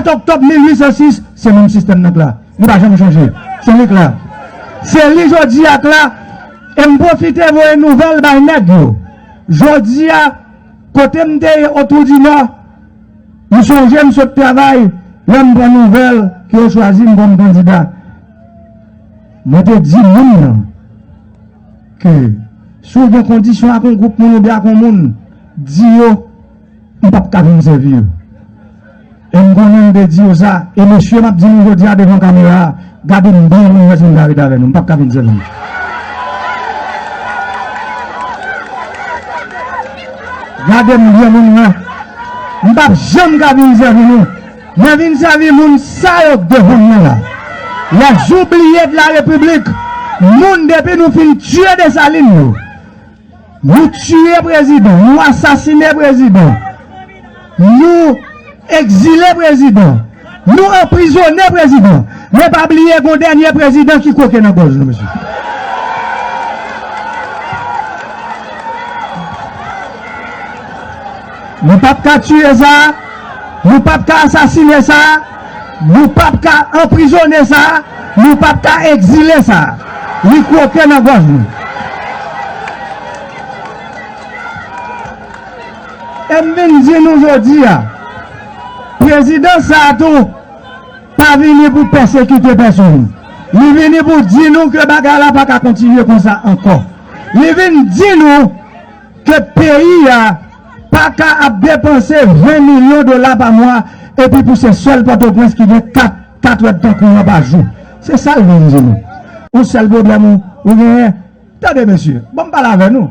7 oktòb 1806, se menm sistèm nan k la. Li pa janm chanje. Se li k la. Se li jodi a k la. E m pwofite voye nouvèl bay nèg yo. Jodi a, kote m te ye Otwoudinò, m sonje m sot travay lè m pran nouvèl ke yo chwazi m kòm kandida. Mwen te di moun nan ke si w gen kondisyon ak yon gwoup moun oubyen ak yon moun, di yo. m pap ka vin sèvi yo. E m konnen m te di yo sa, e mesye m ap di nou jodi a devan kamera a, gade m byen pou nou wè si nou ka ret avè nou. M pap ka vin sèvi nou. Gade m byen pou nou wè. M pap janm ka vin sèvi nou. Mwen vin sèvi moun sa yo k devan mwen la. Les oublies de la République, moun depi nou fin tiye Dessalines yo. Nou tiye prezidan, nou asasine prezidan, nou ekzile prezidan, nou anprizone prezidan, men pa bliye gon dènye prezidan ki kwoke nan gòj nou mesye. Nou pap ka tiye sa, nou pap ka asasine sa. Nou pap ka anprizone sa, nou pap ka egzile sa. Li kwoke nan gòj nou. E m vin di nou jodi a, prezidans sa a tou pa vini pou pèsekite pèsonn. Li vini pou di nou ke bagay la pa ka kontinye konsa ankò. Li vin di nou. Ke peyi a pa ka ap depanse 20 milyon dola pa mwa epi pou se sèl Pòtoprens ki gen 4 katredtan kouran pa jou. Se sa l vin di nou. Yon sèl pwoblèm ou ou genyen? Tande mesye, bon m pale avè nou.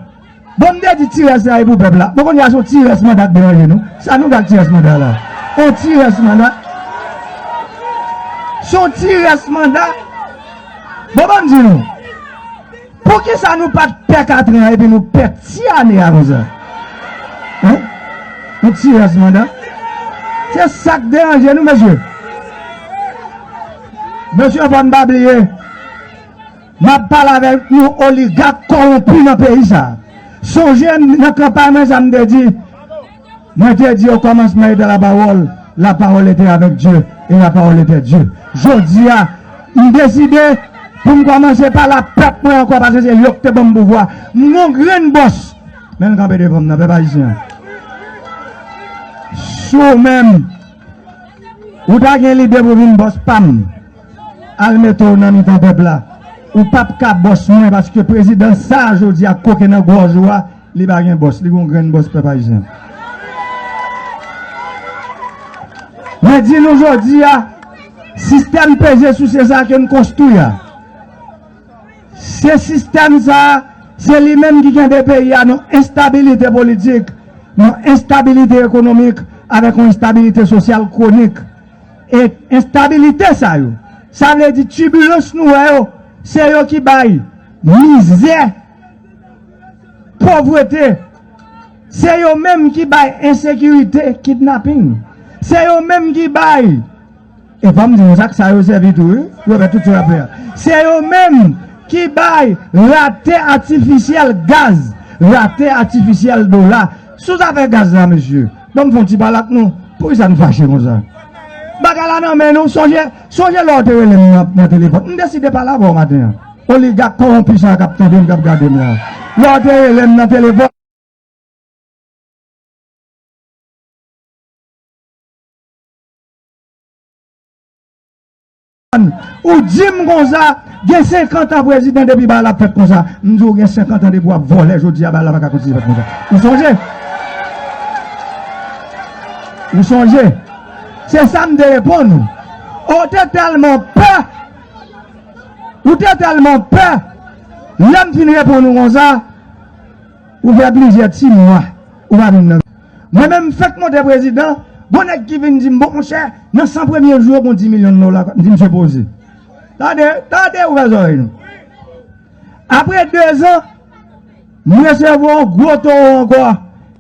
Bon m te di ti rès la e pou pèp la. Bon kounye a se yon ti rès manda k deranje nou. Sa nou gen ak ti rès manda la? Yon ti rès manda? Se yon ti rès manda? Bon ban m di nou. Poukisa nou pat pè katran epi nou pè ti ane a konsa hein yon ti rès manda se sak deranje nou mesye mesye fò n pa bliye map pale avèk yon oligak kowonpi nan peyi sa sonje nan kanpay mwen sa m te di Mwen te di okòmansman eta lapawòl, lapawòl ete avèk Dye, e lapawòl ete Dye. Jodi a, m deside pou m kòmanse pale ak pèp mwen ankò paske se yo ki te ban m pouvwa. M gen yon grenn bòs, men l kanpe devan m nan, pèp ayisyen an. Si w menm, ou ta gen lide pou w vin bòs pa m, al mete w nan mitan pèp la. Ou pap ka bòs mwen paske prezidan sa a jodi a ak koken nan gòj ou a, Li pa gen bòs, li gen yon grenn bòs pèp ayisyen. Mwen di nou jodi a, sistèm peze souse sa ke n konstwi a, se sistèm sa, se li menm ki kenbe peyi a nan enstabilite politik, nan enstabilite ekonomik, avèk yon enstabilite sosyal kwonik. E enstabilite sa yo, sa vle di tibilans nou wè yo, se yo ki bay mizè, Povrete, se yo menm ki bay ensekirite, kidnaping. Se yo menm ki bay, e pa m di nou sa, ak sa yo sèvi tou wi, yo fè tout sa y ap fè a. Se yo menm ki bay rate atifisyèl gaz, rate atifisyèl dola. Sou zafè gaz la mesye, ban m fè yon ti pale ak nou, poukisa nou fache konsa? Bagay la nan men nou, sonje. Sonje lè w te rele m nan telefòn. M deside pale avè w maten an. Oligak kowonpi sa a k ap tande m, k ap gade m la. Lè w te rele m nan telefòn. Ou di m konsa, gen senkant an prezidan depi bagay la ap fèt konsa. M di w gen senkant an depi w ap vòlè jodi a bagay la pa ka kontinye fèt konsa. Ou sonje? Ou sonje? Se sa m te reponn ou. O Ou te tèlman pè! Ou te tèlman pè! Lè m fin reponn ou konsa, ou fè plizyè ti mwa ou pa vin nan. Mwen menm m fèk monte prezidan, gon nèg ki vin di m, bon monchè, nan 100 premye jou yo gon 10 milyon dola k ap. M di msye poze. Tande, tande, ouvè zòrèy nou. Apre dezan, m resevwa yon gwo towo ankò.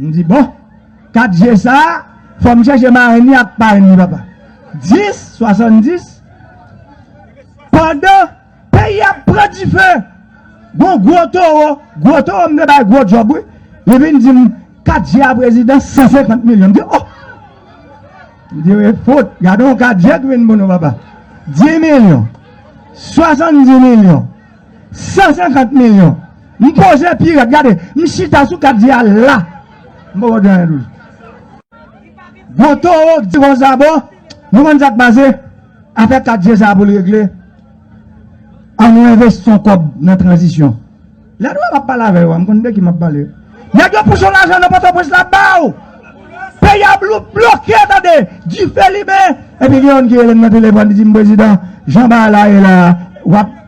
M di bon, 4 je sa, fò m chèche marenn li ak parenn li papa. 10, 70, pandan peyi a ap pran dife, gon gwo towo, gwo towo m te bay gwo djòb wi, li vin di m, 4 je a prezidan, 150 milyon. M di oh! M di e fout, gade yon 4 je ki vin pou nou papa. 10 milyon, 70 milyon. 150 milyon m poze pi rèd gade m chita sou kat di a la m poko di anyen toujou gwo towo k di konsa bon nou konn sak pase afè kat di sa poul regle an nou envesti yon kòb nan tranzisyon lè nou wè map pale avè yo a m konn de ki map pale nèg yo pouse yon lajan nan pòtoprens la baw peyi a bloke tande dife limen epi gen youn ki rele m nan telefòn li di m prezidan jan bagay la ye la wap.